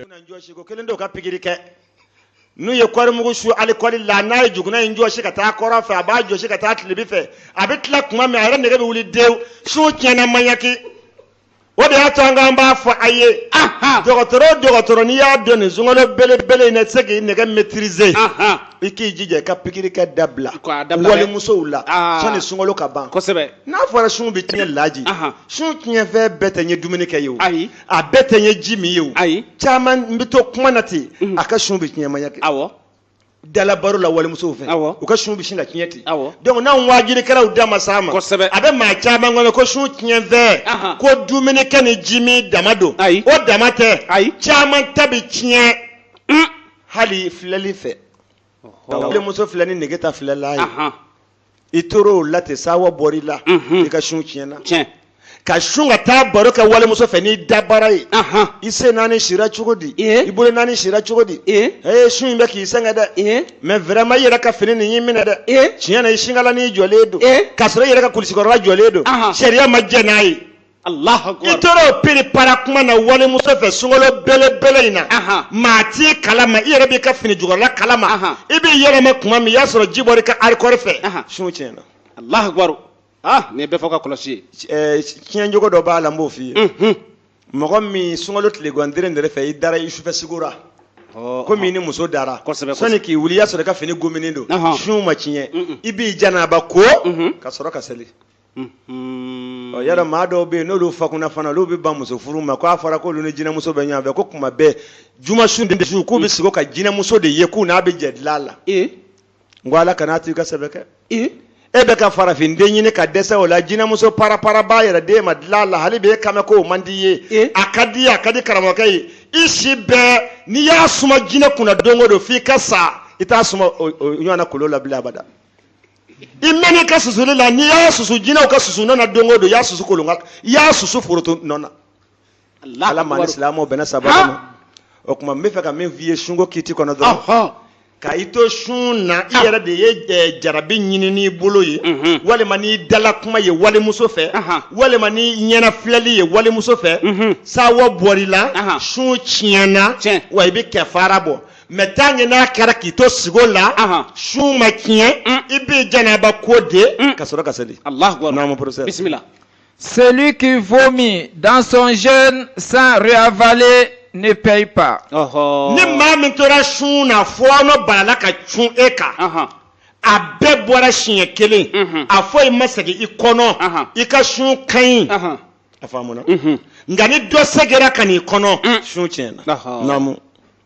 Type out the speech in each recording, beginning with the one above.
na jɔsi ko kelen dɔw ka pikiri kɛ n'u ye kɔɔri mugu su alikɔli la n'a ye juguna in jɔsi ka taa kɔrɔ fɛ a b'a jɔsi ka taa tilibi fɛ a bɛ tila kuma min a yɛrɛ nege bɛ wuli dewu sun tiɲɛna maɲaki o de y'a to an k'an b'a fɔ a ye dɔgɔtɔrɔ o dɔgɔtɔrɔ n'i y'a dɔn nin sunkalo belebele in na i tɛ se k'i nege maîtriser i k'i jija i ka pikiri kɛ dabila K'a dabila dɛ. walimusow la Aa. sani sunkalo ka ban kosɛbɛ n'a fɔra sun bɛ tiɲɛ laji Ahan. sun tiɲɛfɛn bɛɛ tɛ n ye dumuni kɛ ye o ayi a bɛɛ tɛ n ye ji min ye o ayi caman bɛ to kuma na ten a ka sun bɛ tiɲɛ maɲaki awɔ dala baro la walimusow fɛ Awɔ. u ka sun bɛ sin ka tiɲɛ ten Awɔ. donc n'anw waajirikɛlaw da ma s'a ma Kosɛbɛ. a bɛ maa caman kɔnɔ ko sun tiɲɛfɛn Ahan. ko dumuni kɛ ni ji min dama don Ayi. o dama tɛ Ayi. caman ta bɛ tiɲɛ hali filɛli fɛ Ɔhɔ. walimuso filɛ ni nege ta filɛla ye Ahan. i tora o la ten sawa bɔra i la i ka sun tiɲɛna tiɲɛ ka sun ka taa baro kɛ walimuso fɛ n'i dabara ye i sen naani sira cogo di i bolo naani sira cogo di ee sun in bɛ k'i sɛgɛn dɛ mais vraiment i yɛrɛ ka fini nin y'i minɛ dɛ tiɲɛ na i sinkala nin jɔlen don k'a sɔrɔ i yɛrɛ ka kulusikɔrɔla jɔlen don sariya ma jɛn n'a ye i tora piripara kuma na walimuso fɛ sunkalo belebele in na maa t'i kalama i yɛrɛ b'i ka fini jukɔrɔla kalama i b'i yɛlɛma kuma min i y'a sɔrɔ ji bɔra i ka arikɔri fɛ sun tiɲɛna alahu akibaru ah nin ye bɛɛ fɔ ka kɔlɔsi ye tiɲɛ cogo dɔ b'a la n b'o f'i ye mɔgɔ min sunkalo tile gandere nɛrɛ fɛ i dara i sufɛ sigora komi i ni muso dara sani k'i wuli i y'a sɔrɔ i ka fini gominen don sun ma tiɲɛ i b'i janaba ko ka sɔrɔ ka seli ɔ yala maa dɔw bɛ yen n'olu fakunna fana olu bɛ ban muso furu ma k'a fɔra k'olu ni jinɛmuso bɛ ɲɔgɔn fɛ ko kuma bɛɛ juma su ni su k'u bɛ sigo ka jinɛmuso de ye k'u n'a bɛ jɛ dilan la n ko ala kana to i ka sɛbɛ kɛ e bɛ ka farafin den ɲini ka dɛsɛ o la jinɛmuso parapara b'a yɛrɛ d'e ma dilan la hali bɛ e kamɛ k'o man di ye a ka di a ka di karamɔgɔkɛ ye i si bɛɛ n'i y'a suma jinɛ kunna don o don f'i ka sa i t'a suma ɲɔgɔn na kolon la bilen abada i mɛn'i ka susuli la n'i y'a susu jinɛw ka susu nɔ na don o don i y'a susu kolon kan i y'a susu foroto nɔ na ala m'an ni silamɛw bɛnna sababu ma o tuma n bɛ fɛ ka min f'i ye sunko kiti kɔnɔ dɔrɔn ka i to sun na i yɛrɛ de ye eh, jarabi ɲini n'i bolo ye mhm. walima n'i dala kuma ye walimuso fɛ walima n'i ɲɛna filɛli ye walimuso fɛ mhm. sawa bɔr'i la sun tiɲɛna wa i bɛ kɛfara bɔ mais tant que n'a kɛra k'i to sigo la Ahan. sun ma tiɲɛ Mm. i b'i janaba ko de Mm. ka sɔrɔ ka seli Allahu akbar. Naamu professeur. Bismillah. Celui qui vomit dans son jeûne sans réavaler ne paye pas. Ɔhɔ. ni maa min tora sun na fɔɔnɔ balala ka cun e kan Ahan. a bɛɛ bɔra siɲɛ kelen Mhm. a foyi ma segin i kɔnɔ Ahan. i ka sun ka ɲi Ahan. a faamuna Mhm. nka ni dɔ segera ka n'i kɔnɔ Mm. sun tiɲɛna Ahan. naamu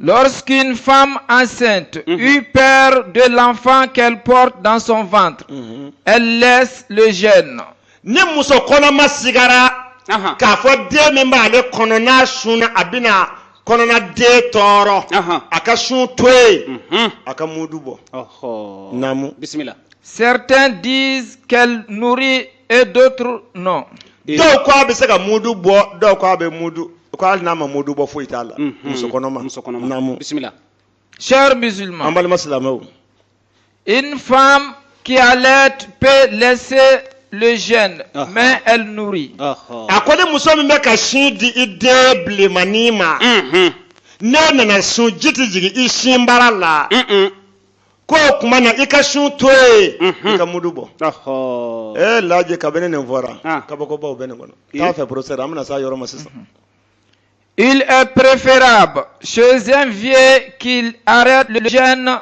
Lɔskin fa an sen i pɛ don lafan kɛlɛ paul dansonfan lɛn na ni muso kɔnɔma sigara k'a fɔ den min b'a ale kɔnɔ sun a bɛna kɔnɔna den tɔɔrɔ a ka sun to yen a ka mugu bɔ bisimila sɛte di kɛlɛ et d'autres non. dɔw ko a bɛ se ka mudu bɔ dɔw ko a bɛ mudu ko hali n'a ma mudu bɔ foyi t'a la. Mhm. muso kɔnɔma muso kɔnɔma naamu bisimila. chers musulmans. an balima silamɛw. une femme qui allaite peut laisser le jeûne ah. mais elle nourrit. Ah, ah. a ko ni muso min bɛ ka sin di i den bilenmanin ma. Mhm. n'e nana sun ji tɛ jigin i sinbara la. ko o tuma na i ka sun to yen i ka mudu bɔ Ɔhɔ. ee laaji kabini nin fɔra Ah. kabakobaw bɛ nin kɔnɔ t'a fɛ professeur an bɛna se a yɔrɔ ma sisan Il est préférable chez un vieux qu'il arrête le jeûne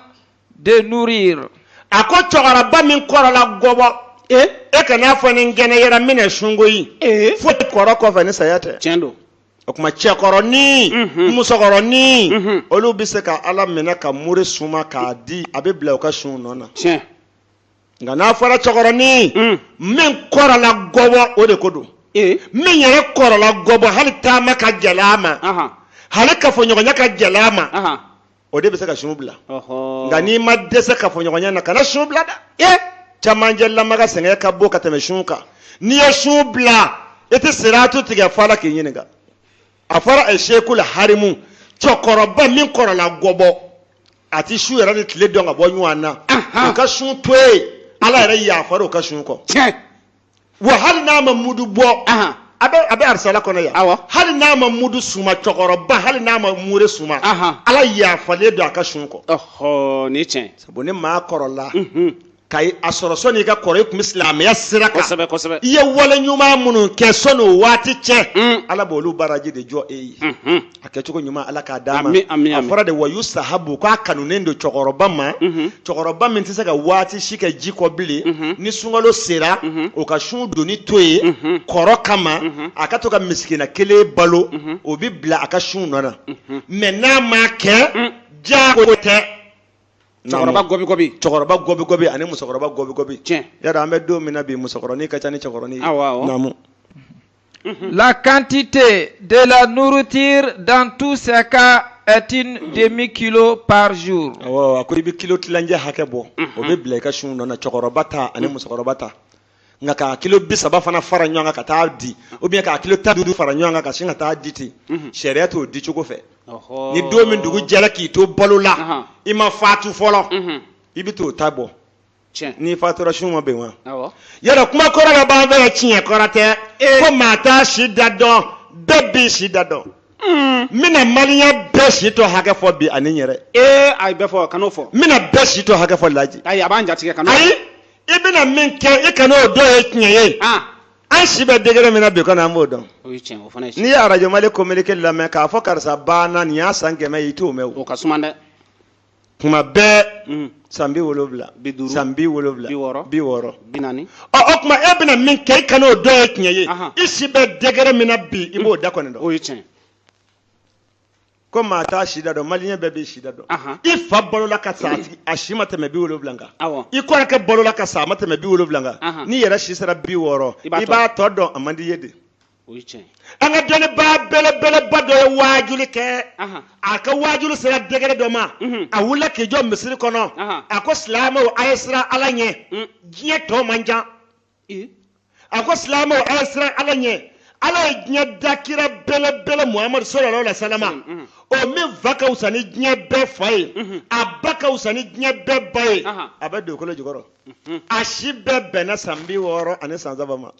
de nourrir. a ko cɛkɔrɔba min kɔrɔla gɔbɔ e e kana fɔ ni n kɛnɛyara n bɛna sun koyi fo kɔrɔ kɔfɛ ni saya tɛ Tiɲɛ don. o tuma cɛkɔrɔnin mhm. musokɔrɔnin mhm. olu bɛ se ka ala minɛ ka muri suma k'a di a bɛ bila u ka sun nɔ na nka n'a fɔra cɛkɔrɔnin mm. min kɔrɔla gɔbɔ o de ko don eh. min yɛrɛ kɔrɔla gɔbɔ hali taama ka gɛlɛ a ma hali kafoɲɔgɔnya ka gɛlɛ a ma o de bɛ se ka sun bila nka n'i ma dɛsɛ kafoɲɔgɔnya na kana sun bila dɛ e camancɛ lamaga sɛgɛn ka bon ka tɛmɛ sun kan n'i ye sun bila i tɛ siratu tigɛ f'ala k'i ɲininka a fɔra a sekul harimu cɛkɔrɔba min kɔrɔla gɔbɔ a tɛ su yɛrɛ ni tile dɔn ka bɔ ɲɔgɔn na u ka sun to yen ala yɛrɛ yafara u ka sun kɔ wa hali n'a ma mudu bɔ a bɛ arisala kɔnɔ yan awɔ hali n'a ma mudu suma cɛkɔrɔba hali n'a ma mure suma ala yafalen don a ka sun kɔ ɔhɔ ni tiɲɛ sabu ni maa kɔrɔla mhm. ka a sɔrɔ sɔni i ka kɔrɔ i tun bɛ silamɛya sira kan kosɛbɛ kosɛbɛ i ye wale ɲuman minnu kɛ sɔni o waati cɛ mm. ala b'olu baraji de jɔ e ye mhm. a kɛcogo ɲuman ala k'a d'a ma a fɔra de wa yusahabu k'a kanunen don cɛkɔrɔba ma mhm. cɛkɔrɔba min tɛ se ka waati si kɛ ji kɔ bilen mhm. ni sunkalo sera mhm. o ka sun donni to yen kɔrɔ kama a ka to ka misikina kelen balo o bɛ bila a ka sun nɔ na mais n'a ma kɛ mm. jago tɛ cɛkɔrɔba gɔbigɔbi cɛkɔrɔba gɔbigɔbi ani musokɔrɔba gɔbigɔbi tiɲɛ y'a dɔn an bɛ don min na bi musokɔrɔnin ka ca ni cɛkɔrɔnin ye naamu La quantité de la nourriture dans tous ces cas est un demi-kilo par jour. Awɔ, a ko i bɛ kilo tilancɛ hakɛ bɔ. O bɛ bila i ka sun nɔ na cɛkɔrɔba ta ani musokɔrɔba ta. Nka k'a kilo bi saba fana fara ɲɔgɔn kan ka taa di ou bien k'a kilo tan duuru fara ɲɔgɔn kan ka sin ka taa di ten. Sariya t'o di cogo fɛ. Ni don min dugu jɛra k'i to balo la, i ma fatu fɔlɔ, i bɛ t'o ta bɔ. n'i fatura sun ma bin wa yala kuma kɔrɔ la b'an fɛ tiɲɛ kɔrɔ tɛ eh. ko maa t'a si da dɔn bɛɛ b'i si da dɔn n hmm. bɛna maliyɛn bɛɛ si tɔ hakɛ fɔ bi ani n yɛrɛ ee eh, ayi bɛɛ fɔ kan'o fɔ n bɛna bɛɛ si tɔ hakɛ fɔ laji ayi a b'an jatigɛ kan'o ayi i bɛna min kɛ i kan'o dɔn o ye tiɲɛ ye ah. an si bɛ degré min na bi kɔni an b'o dɔn n'i ye arajo mali communiqué lamɛn k'a fɔ karisa banna nin y'a san kɛmɛ ye i t'o mɛn o ka suma dɛ kuma bɛɛ mm. san bi wolowula san bi wolowula bi wɔɔrɔ bi naani ɔ o kuma e bɛna min kɛ i kana o dɔn o ye tiɲɛ ye i si bɛ degré min na bi i b'o mm. da kɔni dɔn o ye tiɲɛ ko maa t'a si da dɔn maliyɛn bɛɛ b'i si da dɔn i fa balola ka sa a si ma tɛmɛ bi wolowula kan i kɔrɔkɛ balola ka sa a ma tɛmɛ bi wolowula kan n'i yɛrɛ si sera bi wɔɔrɔ i b'a tɔ dɔn a man di i ye de o ye tiɲɛ an ka dɔnnibaa belebeleba dɔ ye waajuli kɛ a ka waajuli sera degré dɔ ma mhm. a wulila k'i jɔ misiri kɔnɔ a ko silamɛw a ye siran ala ɲɛ mm. diɲɛ tɔ man jan a ko silamɛw a ye siran ala ɲɛ ala ye diɲɛ da kira belebele muhamadu sallallahu alayhi wa sallam mm, mm. o min fa ka wusa ni diɲɛ bɛɛ fa ye mm-hmm. a ba ka wusa ni diɲɛ bɛɛ ba ye a bɛ dugukolo jukɔrɔ mm-hmm. a si bɛɛ bɛnna san bi wɔɔrɔ ani san saba ma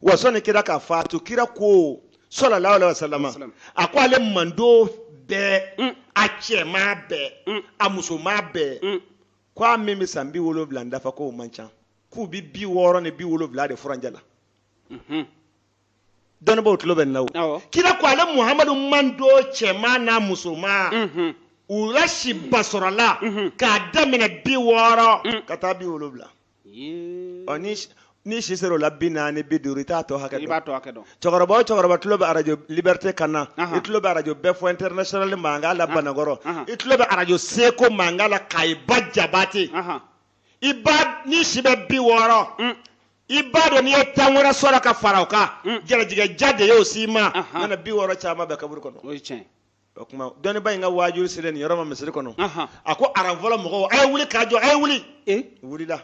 wa sɔnni kira ka faatu kira ko sallallahu alayhi wa sallam a ko ale manton bɛɛ mm. a cɛman bɛɛ mm. a musoman bɛɛ mm. ko a min bɛ san bi wolonwula n dafa k'o man ca k'u bɛ bi wɔɔrɔ ni bi wolonwula de furancɛ la mhm. dɔnnibaaw tulo bɛ n na wo kira ko ale muhamadu manton cɛman n'a musoman mhm. u la si basɔrɔla mhm. k'a daminɛ bi wɔɔrɔ ka taa bi wolonwula ni si sera o la bi naani bi duuru i t'a tɔ hakɛ dɔn cɛkɔrɔba o cɛkɔrɔba tulo bɛ arajo liberté kan na i tulo bɛ arajo bɛɛ fɔ international mankan la banakɔrɔ i tulo bɛ arajo seko mankan la kayi ba jabate i ba ni si bɛ bi wɔɔrɔ mm. i b'a dɔn n'i ye tan wɛrɛ sɔrɔ ka fara o kan mm. jɛrɛjigɛ ja de y'o s'i ma nana bi wɔɔrɔ caman bɛ kaburu kɔnɔ o tuma dɔnnibaa in ka waajuli selen nin yɔrɔ ma misiri kɔnɔ Ahan. a ko aran fɔlɔ mɔgɔw a ye wuli k'a jɔ a ye wuli Eh, u wulila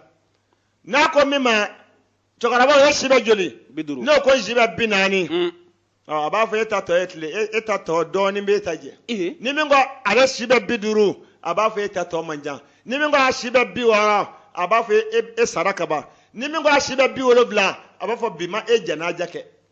n'a ko min ma cɛkɔrɔba o ye si bɛ joli bi duuru n'o ko si bɛ bi naani Mm. ɔ, a b'a fɔ e ta tɔ ye tile e- e ta tɔ dɔɔnin b'e ta jɛ Eh, ni min ko ale si bɛ bi duuru a b'a fɔ e ta tɔ man jan ni min ko a si bɛ bi wɔɔrɔ a b'a fɔ e- e e sara kaban ni min ko a si bɛ bi wolonwula a b'a fɔ bi ma e jɛnaja kɛ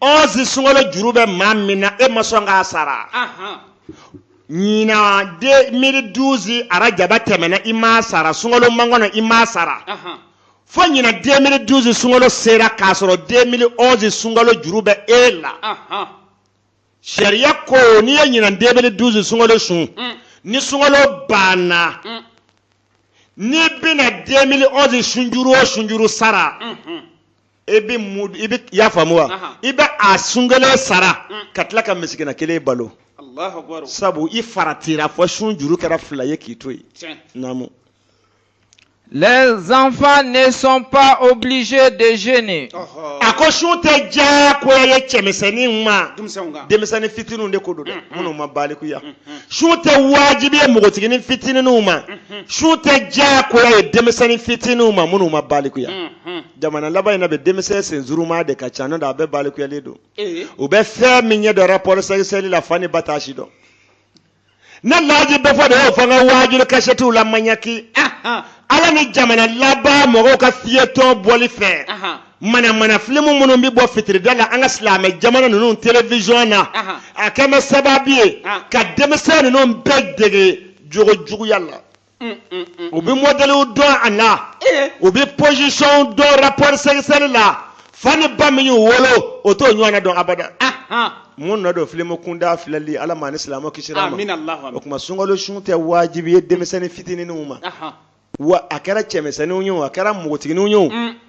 onze sunkalo juru bɛ maa min na e ma sɔn k'a sara ɲinan deux mille douze arajaba tɛmɛna i m'a sara sunkalo makɔnɔ i m'a sara fo ɲinan deux mille douze sunkalo sera k'a sɔrɔ deux mille onze sunkalo juru bɛ e la sariya ko n'i ye ɲinan deux mille douze sunkalo sun mm. ni sunkalo banna mm. n'i bɛna deux mille onze sunjuru o sunjuru sara. Mm-hmm. e bɛ mu i bɛ y'a faamu wa Aha. i bɛ a sun kelen sara Mm. ka tila ka misikina kelen balo Allahu akbar. sabu i faratira fo sun juru kɛra fila ye k'i to yen Tiɲɛ. naamu Les enfants ne sont pas obligés de jeûner. Ɔhɔ. a ko sun tɛ diyagoya ye cɛmisɛnnin ma Denmisɛnw kan. denmisɛnnin fitininw de ko don dɛ Mm, mm. minnu ma balikuya Mm, mm. sun tɛ wajibi ye npogotiginin fitininw ma Mhm. sun tɛ diyagoya ye denmisɛnnin fitininw ma minnu ma balikuya Mhm. jamana laban in na bi denmisɛn sensuruma de ka ca n'o tɛ a bɛɛ balikuyalen don u bɛ fɛn min ɲɛ dɔn rapport sexuel la fa ni ba t'a si dɔn ne laaji bɛɛ fɔ de y'o fɔ n ka waajuli kasɛtiw la maɲaki ala ni jamana laban mɔgɔw ka feuilleton bɔli fɛ manamana filimu minnu bɛ bɔ fitirida la an ka silamɛ jamana ninnu telewisɔn na a kɛn bɛ sababu ye ka denmisɛn ninnu bɛɛ dege jogo juguya la mm, mm, mm, u bɛ mɔdɛliw dɔn a la u bɛ pɔsisɔnw dɔn rapport sexuel la fa ni ba min y'u wolo o t'o ɲɔgɔnna dɔn abada mun nɔ don filimu kuntan filɛli ala m'an ni silamɛ kisir'a ma o tuma sunkalo sun tɛ wajibi ye denmisɛnnin fitininw ma wa a kɛra cɛmisɛnninw ye o a kɛra npogotigininw ye o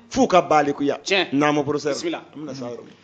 f'u ka balikuya naamu professeur an bɛna s'a yɔrɔ ma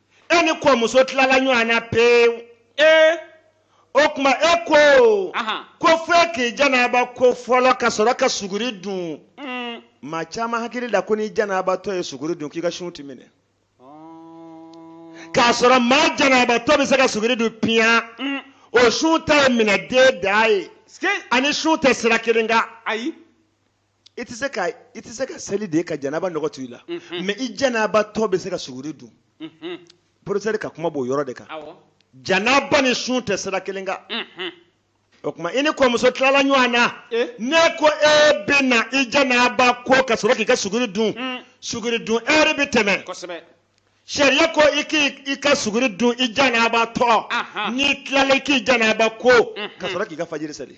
e ni kɔmuso tilala ɲɔgɔn na pewu ee o tuma e ko Ahan. ko fo e k'i janaba ko fɔlɔ ka sɔrɔ ka suguri dun Mm. maa caman hakili la ko n'i janabatɔ ye suguri dun k'i ka sun ti minɛ k'a sɔrɔ maa janabatɔ bɛ se ka suguri dun piyan Mm. o sun ta ye minɛ den da ye Ske- ani sun tɛ sira kelen kan ayi i tɛ se ka i tɛ se ka seli de ka janaba nɔgɔ to i la mais i janabatɔ bɛ se ka suguri dun professeur ka kuma b'o yɔrɔ de kan janaba ni sun tɛ sira kelen kan o tuma i ni kɔmuso tilala ɲɔgɔn na ne ko e bɛ na i janaba ko ka sɔrɔ k'i ka suguri dun suguri dun heure bɛ tɛmɛ sariya ko i k'i ka suguri dun i janabatɔ n'i tilala i k'i janaba ko ka sɔrɔ k'i ka fajiri seli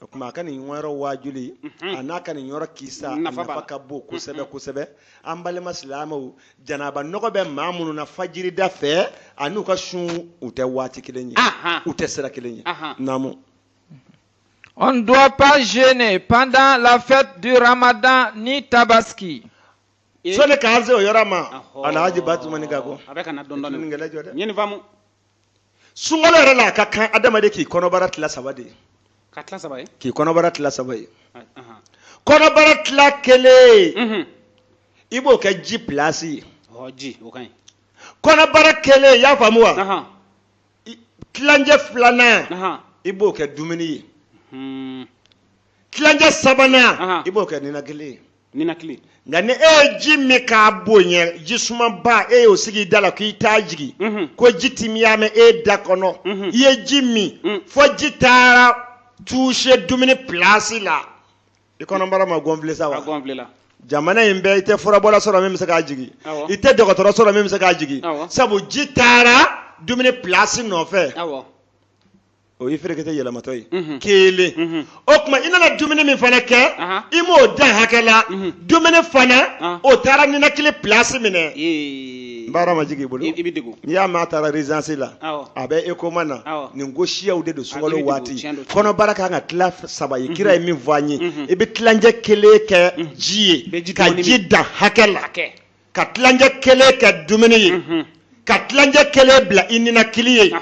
o tuma a ka nin yɔrɔ waajuli mhm. a n'a ka nin yɔrɔ kisa nafa ka bon kosɛbɛ mhm. kosɛbɛ an balima silamɛw janaba nɔgɔ bɛ maa minnu na fajirida fɛ an'u ka sun u tɛ waati kelen ye u tɛ sira kelen ye naamu On ne doit pas jeûner pendant la fête du Ramadan ni Tabaski. Sɔni k'an se o yɔrɔ ma, Alhaji Batumani Gago. A bɛ ka na dɔɔni dɔɔni. Ɲininkɛla jɔ dɛ. N ye nin faamu. sunkalo yɛrɛ la a ka kan adamaden k'i kɔnɔbara tila saba de ye ka tila saba ye k'i kɔnɔbara tila saba ye kɔnɔbara tila kelen i b'o kɛ ji pilasi ye ji o ka ɲi kɔnɔbara kelen i y'a faamu wa tilancɛ filanan i b'o kɛ dumuni ye tilancɛ sabanan i b'o kɛ ninakili ye ninakili nka ni e ye ji min k'a bonya ji sumaba e y'o sigi i da la k'i t'a jigin Mhm. ko ji timiya mɛn e da kɔnɔ Mhm. i ye ji min Mm. fɔ ji taara toucher dumuni pilasi la i kɔnɔbara ma gonfler sa a wa gonfler la jamana in bɛɛ i tɛ furabɔla sɔrɔ min bɛ se k'a jigin Awɔ. i tɛ dɔgɔtɔrɔ sɔrɔ min bɛ se k'a jigin Awɔ. sabu ji taara dumuni pilasi nɔfɛ awɔ o y'i ferekete yɛlɛmatɔ ye mhm. kelen mhm. o tuma i nana dumuni min fana kɛ i m'o dan hakɛ la mhm. dumuni fana ah. o taara ninakili pilasi minɛ n bara ma jigin i bolo i bɛ degun n'i y'a mɛn a taara urgence la a bɛ coma na nin ko siyaw de don sunkalo waati kɔnɔbara kan ka tila saba ye kira ye min fɔ an ye i bɛ tilancɛ kelen kɛ ji ye ka ji dan hakɛ la ka tilancɛ kelen kɛ dumuni ye mhm. ka tilancɛ kelen bila i ninakili ye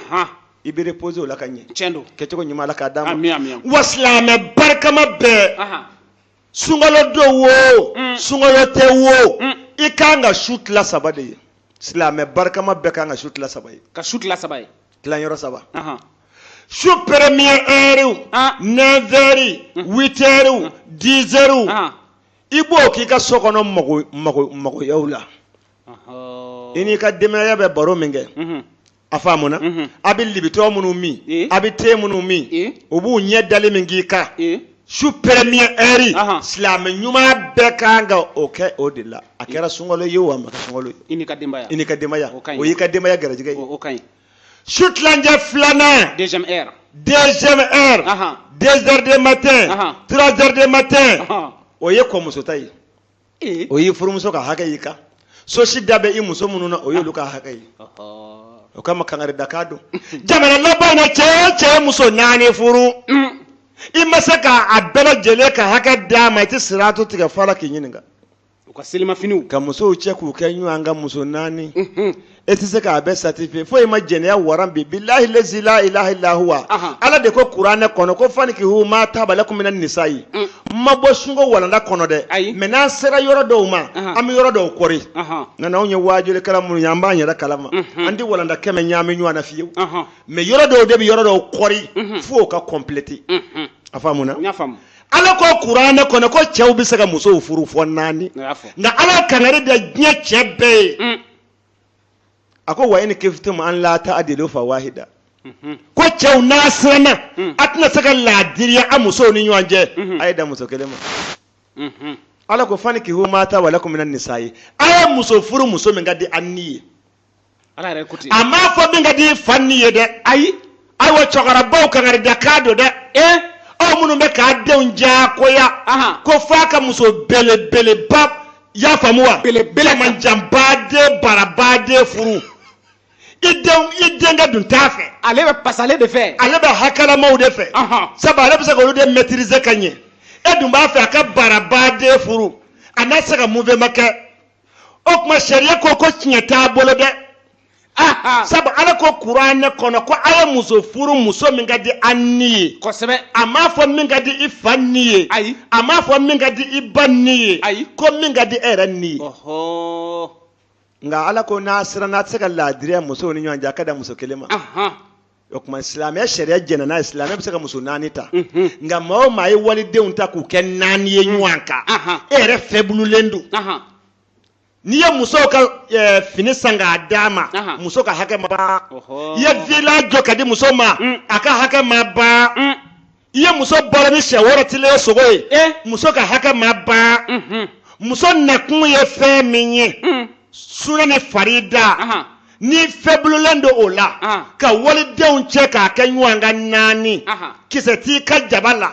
i bɛ reposer o la ka ɲɛ tiɲɛ don kɛcogo ɲuman ala k'a d'an ma wa silamɛ barikama bɛɛ sunkalo don wo mm. sunkalo tɛ wo mm. i kan ka su tila saba de ye silamɛ barikama bɛɛ kan ka su tila saba ye ka su tila saba ye tilanyɔrɔ saba su premier heure 9 heures 8 heures 10 heures i b'o k'i ka so kɔnɔ magoyaw la i n'i ka denbaya bɛ baro min kɛ a faamuna a bɛ libitɔ minnu min a bɛ te minnu min u b'u ɲɛ dali min k'i kan su premier heure silamɛ ɲuman bɛɛ kan ka o kɛ o de la a kɛra sunkalo ye wo a ma kɛ sunkalo ye i n'i ka denbaya o y'i ka denbaya garijɛgɛ su tilancɛ filanan deuxième heure deuxième heure Ahan. deux heures de matin Ahan. trois heures de matin Ahan. o ye kɔmuso ta ye Eh. o y'i furumuso ka hakɛ y'i kan sosi da bɛ i muso minnu na o y'olu ka hakɛ ye Ɔhɔ. o kama kangari da k'a don jamana laban in na cɛ o cɛ ye muso naani furu Mm. i ma se k'a bɛɛ lajɛlen ka hakɛ d'a ma i tɛ siratu tigɛ fɔ ala k'i ɲininka u ka selimafiniw ka musow cɛ k'u kɛ ɲɔgɔn kan muso naani e tɛ se k'a bɛɛ satisfait foyi ma jɛnɛya waran bi bilahi lazi la ilaha illa huwa ala de ko kuranɛ kɔnɔ ko fanikihu ma taba lakum mina nisa'i n ma bɔ sunko walanda kɔnɔ dɛ ayi mais n'an sera yɔrɔ dɔw ma an bɛ yɔrɔ dɔw kɔri nka n'anw ye waajulikɛla minnu ye an b'an yɛrɛ kalama an tɛ walanda kɛmɛ ɲaami ɲɔgɔn na fiyewu mais yɔrɔ dɔw de bɛ yɔrɔ dɔw kɔri f'o ka compléter a faamuna n y'a faamu ala ko kuranɛ kɔnɔ ko cɛw bɛ se ka musow furu fɔ naani nka ala kangari da diɲɛ cɛ bɛɛ ye mm. a ko wa ini kifitum an la taadilu fa wahida mm-hmm. ko cɛw n'a siranna mm. a tɛna se ka laadiriya a musow ni ɲɔgɔn cɛ mm-hmm. a ye dan muso kelen ma mm-hmm. ala ko fanikihu ma taba lakum minan nisa'i a ye muso furu muso min ka di a ni ye ala yɛrɛ ko ten a m'a fɔ min ka di i fa ni ye dɛ ayi ayiwa cɛkɔrɔbaw kangari da k'a don dɛ ee aw minnu bɛ k'a denw diyagoya ko f'a ka muso belebeleba y'a faamu wa belebele jamanjanba de baraba de furu i den i denkɛ dun t'a fɛ ale bɛ pasalen de fɛ ale bɛ hakɛlamaw de fɛ sabu ale bɛ se k'olu de maîtriser ka ɲɛ e dun b'a fɛ a ka baraba de furu a na se ka mouvement kɛ o tuma sariya ko ko tiɲɛ t'a bolo dɛ sabu ala ko kuranɛ kɔnɔ ko a ye muso furu muso min ka di a ni ye kosɛbɛ a m'a fɔ min ka di i fa ni ye ayi a m'a fɔ min ka di i ba ni ye ayi ko min ka di e yɛrɛ ni ye nka ala ko n'a siranna a tɛ se ka laadiriya musow ni ɲɔgɔn cɛ a ka dan muso kelen ma o tuma silamɛya sariya jɛnna n'a ye silamɛya bɛ se ka muso naani ta nka maa o maa ye walidenw ta k'u kɛ naani ye ɲɔgɔn kan e yɛrɛ fɛbululen don n'i ye muso ka eh, fini san k'a d'a ma muso ka hakɛ ma ban i ye villa jɔ k'a di muso ma a ka hakɛ ma ban i ye muso balo ni shɛ woro tilen ye sogo ye eh. muso ka hakɛ ma ban mhm. muso nakun ye fɛn min ye mm. suna ni farida n'i fɛbululen don o la ka walidenw cɛ k'a kɛ ɲɔgɔn kan naani kisɛ t'i ka jaba la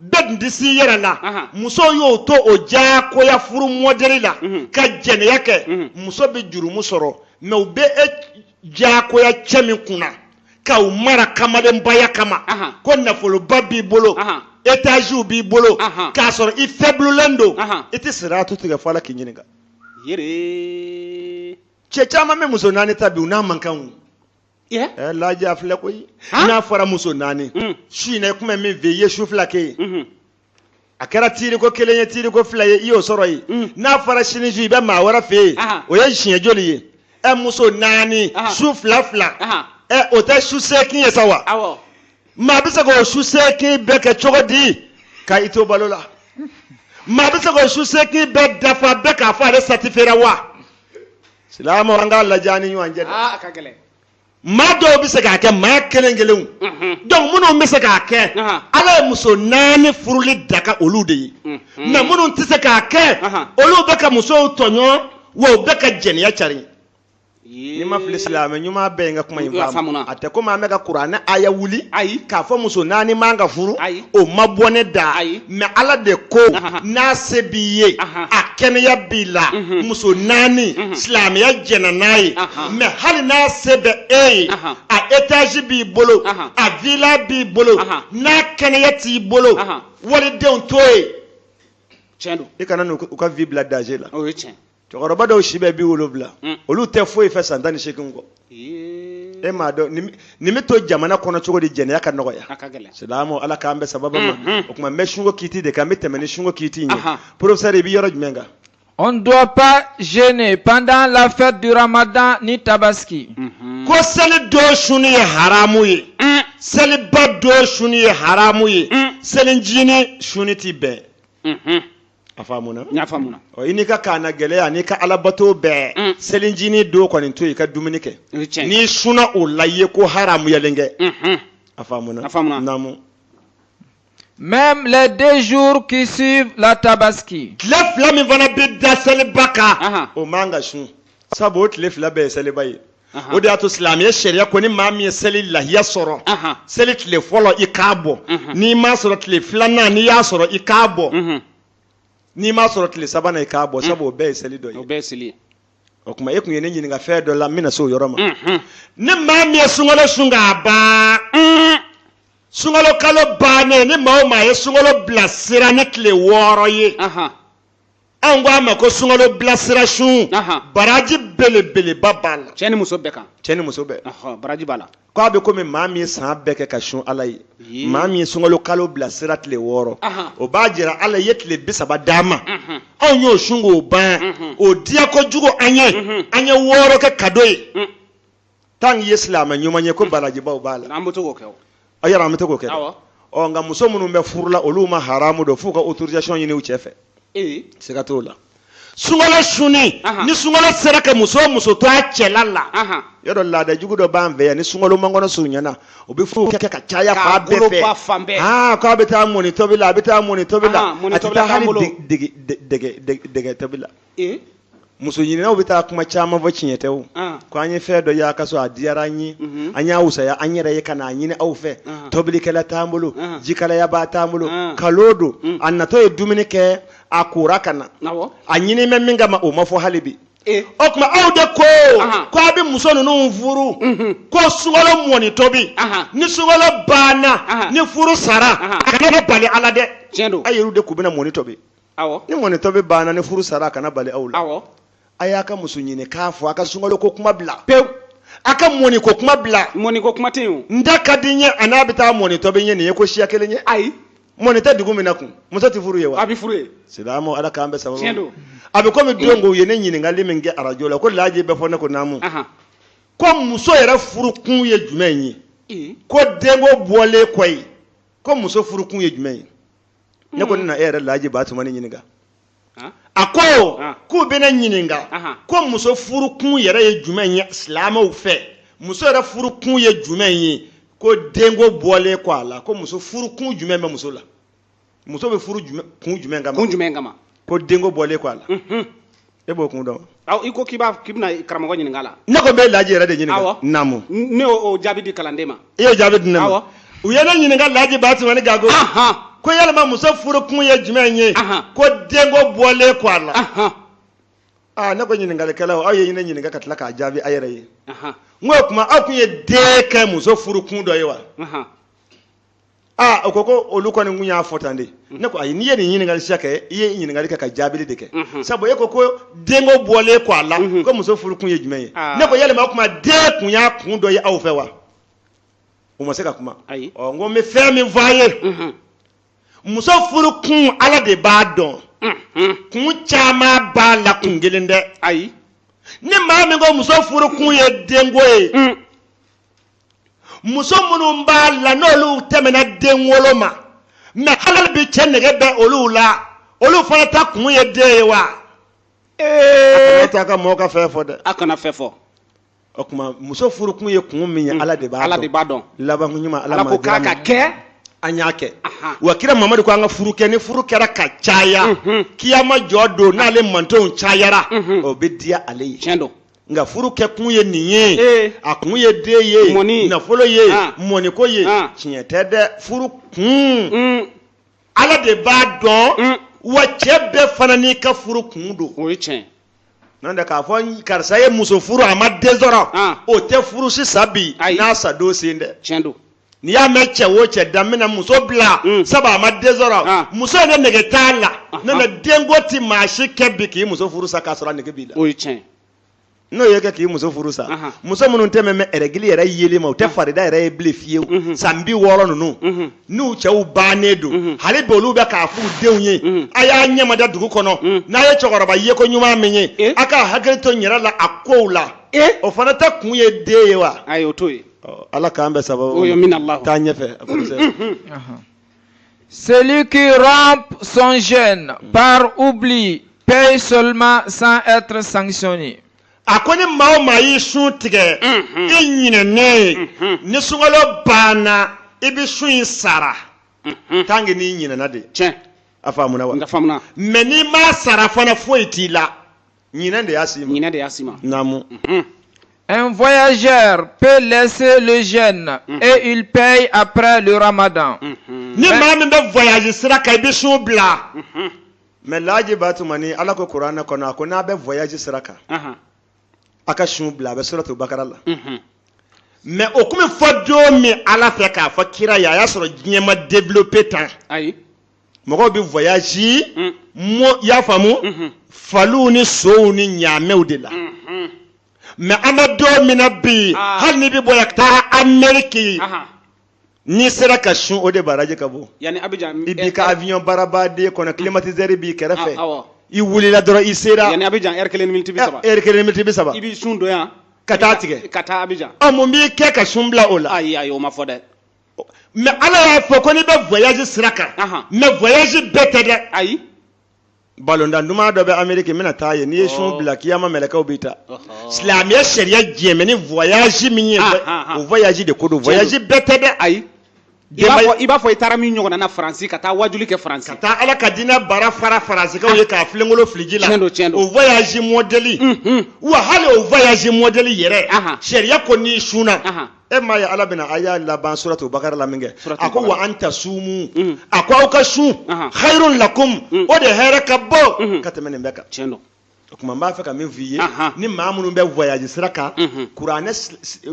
bɛɛ tun tɛ s'i yɛrɛ la muso y'o to o diyagoya furu mɔdɛli la mhm. ka jɛnɛya kɛ mhm. muso bɛ jurumu sɔrɔ mɛ u bɛ e diyagoya cɛ min kunna k'aw mara kamalenbaya kama ko nafoloba b'i bolo etaziw b'i bolo k'a sɔrɔ i fɛbululen don i tɛ sira tu tigɛ fɔ la k'i ɲininka cɛ caman bɛ muso naani ta bi u n'a man kan eh, lajɛ filɛ koyi n'a fɔra muso naani hmm. su in na i tun bɛ min fɛ i ye su fila kɛ yen hmm. a kɛra tiiri ko kelen ye tiiri ko fila ye i y'o sɔrɔ yen mm. n'a fɔra sini su i bɛ maa wɛrɛ fɛ yen o ye siɲɛ joli ye ɛ muso naani su fila fila ɛ o tɛ su seegin ye sa wa maa bɛ se k'o su seegin bɛɛ kɛ cogo di ka i to balo la maa bɛ se k'o su seegin bɛɛ dafa bɛɛ k'a fɔ ale satifera wa silamɛ an k'a lajɛ an ni ɲɔgɔn cɛ dɛ. maa dɔw bɛ se k'a kɛ maa kelen kelenw donc minnu bɛ se k'a kɛ ala ye muso naani furuli daga olu de ye mais minnu tɛ se k'a kɛ olu bɛ ka musow tɔɲɔ wa u bɛ ka jɛnɛya cari ni n ma fili silamɛ ɲuman bɛɛ ye n ka kuma in faamu a tɛ komi an bɛ ka kuranɛ aya wuli ayi k'a fɔ muso naani man ka furu o ma bɔ ne da ayi mais ala de ko n'a se b'i ye a kɛnɛya b'i la muso naani silamɛya jɛnna n'a ye mais hali n'a se bɛ e ye a etazi b'i bolo a vila b'i bolo n'a kɛnɛya t'i bolo walidenw to ye i kana n'u ka vie bila danger la cɛkɔrɔba dɔw si bɛ bi wolonwula mm. olu tɛ foyi fɛ san tan ni seegin kɔ e m'a dɔn nin bɛ to jamana kɔnɔ cogo di jɛnɛya ka nɔgɔya silamɛw ala k'an bɛn sawaba ma mm, mm. o tuma n bɛ sunko kiiti de kan n bɛ tɛmɛ ni sunko kiiti in ye professeur i bɛ yɔrɔ jumɛn kan On ne doit pas jeûner pendant la fête du Ramadan ni Tabaski. Mm-hmm. Ko seli don suni ye haramu ye. Mm. Seliba don suni ye haramu ye. Mm. Selinjini suni ti bɛn. Mm-hmm. a faamuna n y'a faamuna ɔ i n'i ka kaana gɛlɛya n'i ka alabato bɛɛ Mm. selinjini don kɔni to yen i ka dumuni kɛ o ye tiɲɛ ye n'i sunna o la i ye ko haramuyalen kɛ Unhun. a faamuna A faamuna. naamu Même les deux jours qui suivent la tabaski. tile fila min fana bɛ da seliba kan Ahan. o man ka sun sabu o tile fila bɛɛ ye seliba ye o de y'a to silamɛya sariya ko ni maa min ye seli lahiya sɔrɔ seli tile fɔlɔ i k'a bɔ n'i m'a sɔrɔ tile filanan n'i y'a sɔrɔ i k'a bɔ n'i m'a sɔrɔ tile sabanan i k'a bɔ sabu o bɛɛ ye seli don ye o bɛɛ ye seli ye o tuma e tun ye ne ɲininka fɛn dɔ la n bɛna se o yɔrɔ ma ni maa min ye sunkalo sun k'a ban sunkalo kalo bannen ni maa o maa ye sunkalo bilasira ni tile wɔɔrɔ ye an ko a ma ko sunkalo bilasira sun baraji belebeleba b'a la cɛ ni muso bɛɛ kan cɛ ni muso bɛɛ baraji b'a la k'a bɛ komi maa min ye san bɛɛ kɛ ka sun ala ye maa min ye sunkalo kalo bilasira tile wɔɔrɔ o b'a jira ala ye tile bi saba d'an ma anw y'o sun k'o ban o diya kojugu an ye an ye wɔɔrɔ kɛ kado ye tant que i ye silamɛ ɲuman ye ko barajibaw b'a la an bɛ to k'o kɛ a yɛrɛ an bɛ to k'o kɛ ɔ nka muso minnu bɛ furu la olu ma haramu don f'u ka autorisation ɲini u cɛ fɛ siga t'o la sunkalo sunni ni sunkalo sera ka muso o muso to a cɛla la yɔrɔ laada jugu dɔ b'an fɛ yan ni sunkalo mankɔnɔ surunyana u bɛ furu kɛ ka caya fan bɛɛ fɛ aa k'a bɛ taa mɔni tobi la a bɛ taa mɔni tobi la a tɛ taa hali dɛgɛ tobi la ee muso ɲininaw bɛ taa kuma caman fɔ tiɲɛ tɛ o ah. ko an ye fɛn dɔ y'a ka so a diyara an ye mhm. an y'a wusaya an yɛrɛ ye ka n'a ɲini aw fɛ ah. tobilikɛla t'an bolo ah. jikalayabaa t'an bolo kalon don mm. a natɔ ye dumuni kɛ a kora ka na a ɲini bɛ min kama o ma fɔ hali bi eh. o tuma aw de ko ko a bɛ muso ninnu furu mhm. ko sunkalo mɔni tobi ni sunkalo banna ni furu sara a kana bali a la dɛ a yɛrɛw de kun bɛna mɔni tobi awɔ ni mɔni tobi banna ni furu sara a kana bali aw la awɔ a y'a ka muso ɲini k'a fɔ a ka sunkalo ko kuma bila pewu a ka mɔni ko kuma bila mɔni ko kuma tɛ yen o n den ka di n ye an'a bɛ taa mɔni tobi n ye nin ye ko siya kelen ye ayi mɔni tɛ dugu min na kun muso tɛ furu yen wa a bɛ furu yen silamɛw ala k'an bɛ tiɲɛ sababu don a bɛ komi don ko u ye ne ɲininkali min kɛ arajo la ko laaji bɛ fɔ ne ko naamu ahan ko muso yɛrɛ furu kun ye jumɛn ye ee ko denko bɔlen kɔ yen ko muso furu kun ye jumɛn ye ne ko ne na e yɛrɛ laji batumani ɲininka a ko k'u bɛ ne ɲininka ko muso furu kun yɛrɛ ye jumɛn ye silamɛw fɛ muso yɛrɛ furu kun ye jumɛn ye ko denko bɔlen kɔ a la ko muso furu kun jumɛn bɛ muso la muso bɛ furu kun jumɛn kama kun jumɛn kama ko denko bɔlen kɔ a la e b'o kun dɔn awɔ i ko k'i b'a k'i bɛna karamɔgɔ ɲininka a la ne ko n bɛ laji yɛrɛ de ɲininka awɔ naamu ne y'o jaabi di kalanden ma i y'o jaabi di ne ma awɔ u ye ne ɲininka laji batumani gago ko yalima muso furu kun ye jumɛn ye ko denko bɔlen kɔ a la aa ne ko ɲininkalikɛlaw aw ye ne ɲininka ka tila k'a jaabi a yɛrɛ ye n ko o tuma aw tun ye den kɛ muso furu kun dɔ ye wa aa o ko ko olu kɔni kun y'a fɔ tan de ne ko ayi n'i ye nin ɲininkali siya kɛ i ye ɲininkali kɛ ka jaabili de kɛ sabu e ko ko denko bɔlen kɔ a la ko muso furu kun ye jumɛn ye ne ko yalima o tuma den kun y'a kun dɔ ye aw fɛ wa u ma se ka kuma ayi ɔ n ko n bɛ fɛn min fɔ a ye muso furu kun ala de b'a dɔn kun caman b'a la kun kelen tɛ ayi ni maa min ko muso furu kun ye denko ye muso minnu b'a la n'olu tɛmɛna den wolo ma mɛ hali bi cɛ nege bɛ olu la olu fana ta kun ye den ye wa a kana taa ka mɔgɔ ka fɛn fɔ dɛ a kana fɛn fɔ o tuma muso furu kun ye kun min ye ala de b'a dɔn ala de b'a dɔn laban ɲuman ala ko k'a ka kɛ an y'a kɛ wa kira mamadu ko an ka furu kɛ ni furu kɛra ka caya kiyama jɔ don n'ale mantonw cayara o bɛ diya ale ye tiɲɛ don nka furu kɛ kun ye nin ye ee a kun ye den ye Mɔni. nafolo ye Ah. mɔniko ye Ah. tiɲɛ tɛ dɛ furu kun un ala de b'a dɔn un wa cɛ bɛɛ fana n'i ka furu kun don o ye tiɲɛ n'o tɛ k'a fɔ n- karisa ye muso furu a ma den sɔrɔ Ah. o tɛ furu si sa bi Ayi. n'a sa don selen tɛ tiɲɛ don n'i y'a mɛn cɛ o cɛ da n bɛna muso bila mm. sabu a ma den sɔrɔ ah. muso in de nege t'a la ah, n'o tɛ ah. denko ti maa si kɛ bi k'i muso furu sa k'a sɔrɔ a nege b'i la o ye tiɲɛ n'o y'i kɛ k'i muso furu sa muso minnu tɛmɛnen bɛ ɛrɛgili yɛrɛ yeli ma u tɛ farida yɛrɛ ye bilen fiyewu mhm. san bi wɔɔrɔ ninnu mhm. n'u cɛw bannen don mhm. hali bi olu bɛ k'a f'u denw ye a y'a ɲɛmada dugu kɔnɔ n'a ye cɛkɔrɔba yeko ɲuman min ye eh? a ka hakili to n yɛrɛ la a kow la eh? o fana kɛ kun ye den ye wa ayi o t'o ye ala k'an bɛɛ sababu amiina Allah taa ɲɛfɛ Celui qui rompt son jeûne par oubli paye seulement sans être sanctionné. a ko ni maa o maa y'i sun tigɛ mm-hmm. i ɲinɛnen ye mm-hmm. ni sunkalo banna i bɛ sun in sara mm-hmm. tant que n'i ɲinɛna de. tiɲɛ a faamuna wa. n ka faamuna. mais n'i m'a sara fana foyi t'i la. Ɲinɛ de y'a s'i ma. Ɲinɛ de y'a s'i ma. Naamu. Mhm. Un voyageur peut laisser le jeûne mm -hmm. et il paye après le ramadan. Mm -hmm. Ni maa min bɛ voyage sira kan i bɛ sun bila. Mm -hmm. Mais laji Ba Tumani Ala ko Kuranɛ kɔnɔ a ko n'a bɛ voyage sira kan. Uh -huh. A ka sun bila a bɛ suratu Bakara la. Mm -hmm. Mais o kuma fɔ don min Ala fɛ k'a fɔ kira ye a y'a sɔrɔ diɲɛ ma développer tan. Ayi. mɔgɔw bɛ voyage mm. mo y'a faamu mm-hmm. faliw ni sow ni ɲaamɛw de la mm-hmm. mɛ an bɛ don min na bi ah. hali n'i bɛ bɔ yan ka taa amɛriki n'i sera ka sun o de baraji ka bon i b'i ka eh, eh. avion baarabaden kɔnɔ climatiseur b'i kɛrɛfɛ ah, ah, i wulila dɔrɔn i sera yanni abijan ɛri kelen ni miniti bi saba ɛri kelen ni miniti bi saba i b'i sun don yan ka t'a tigɛ ka taa abijan ɔ mun b'i kɛ ka sun bila o la ayi ayi o ma fɔ dɛ mɛ ala y'a fɔ ko n'i bɛ voyage sira kan mɛ voyage bɛɛ tɛ dɛ ayi balontan duman dɔ bɛ ameriki n bɛna taa yen n'i ye sun bila kiyama mɛlɛkɛw b'i ta silamɛya sariya jɛnnen bɛ ni voyage min ye o voyage de ko don voyage bɛɛ tɛ dɛ ayi i b'a fɔ i taara min ɲɔgɔnna na faransi ka taa wajuli kɛ faransi ka taa ala ka diinɛ bara fara faransikaw ye k'a filenkolo fili ji la tiɲɛ don tiɲɛ don o voyage mɔdɛli wa hali o voyage mɔdɛli yɛrɛ sariya ko n'i sunna e m'a ye ala bɛna aya laban suratu bakara la minkɛ a ko wa an tasumu mm. a ko aw ka sun hayrun lakum mm. o de hɛrɛ ka bon mm-hmm. ka tɛmɛ nin bɛɛ kan tiɲɛ don o tuma n b'a fɛ ka min f'i ye ni maa minnu bɛ voyage sira kan mm-hmm. kuranɛ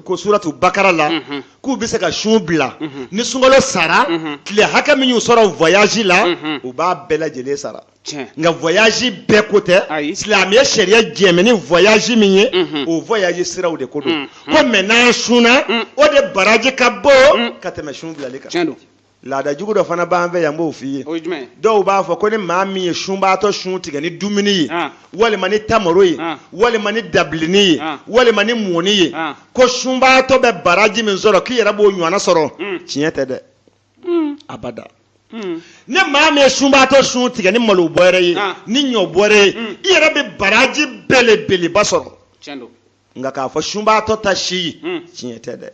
ko suratu bakara la mm-hmm. k'u bɛ se ka sun bila ni sunkalo sara tile hakɛ min y'u sɔrɔ voyage la u b'a bɛɛ lajɛlen sara nka voyage bɛɛ ko tɛ silamɛya sariya jɛn bɛ ni voyage min ye mhm. o voyage siraw de ko don mhm. quand même n'an sunna mhm. o de baraji ka bon ka tɛmɛ sun bilali kan laada jugu dɔ fana b'an fɛ yan n b'o f'i ye dɔw b'a fɔ ko ni maa min ye sunbaatɔ sun tigɛ ni dumuni ye ah. walima ni tamaro ye ah. walima ni dabilini ye ah. walima ni mɔni ye ko sunbaatɔ bɛ baraji min sɔrɔ k'i yɛrɛ b'o ɲɔgɔnna sɔrɔ mm. tiɲɛ tɛ dɛ hmm. abada hmm. ni maa min ye sunbaatɔ sun tigɛ ni malo bɔrɛ ye ah. ni ɲɔ bɔrɛ ye hmm. i yɛrɛ bɛ baraji belebeleba sɔrɔ nka k'a fɔ sunbaatɔ ta si ye tiɲɛ tɛ dɛ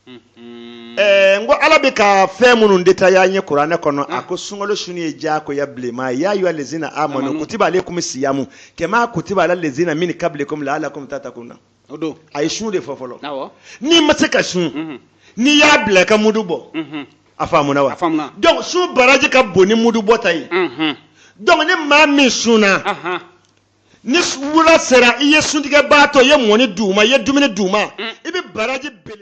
Eh, n ko ala bɛ ka fɛn minnu détailler an ye kuranɛ kɔnɔ a ko sunkalo sunni ye diyagoya bilenman ye ya ayu lezina amanu kutiba aleykum siyamu kama kutiba ala lezina min kablikum la alakum tatakuna o don a ye sun de fɔ fɔlɔ awɔ n'i ma se ka sun Mhm. n'i y'a bila i ka mudu bɔ Mhm. a faamuna wa A faamuna. donc sun baraji ka bon ni mudu bɔ ta ye Mhm. donc ni maa min sunna Ahan. ni wula sera i ye suntigɛbaatɔ i ye mɔni d'u ma i ye dumuni d'u ma i bɛ baraji bele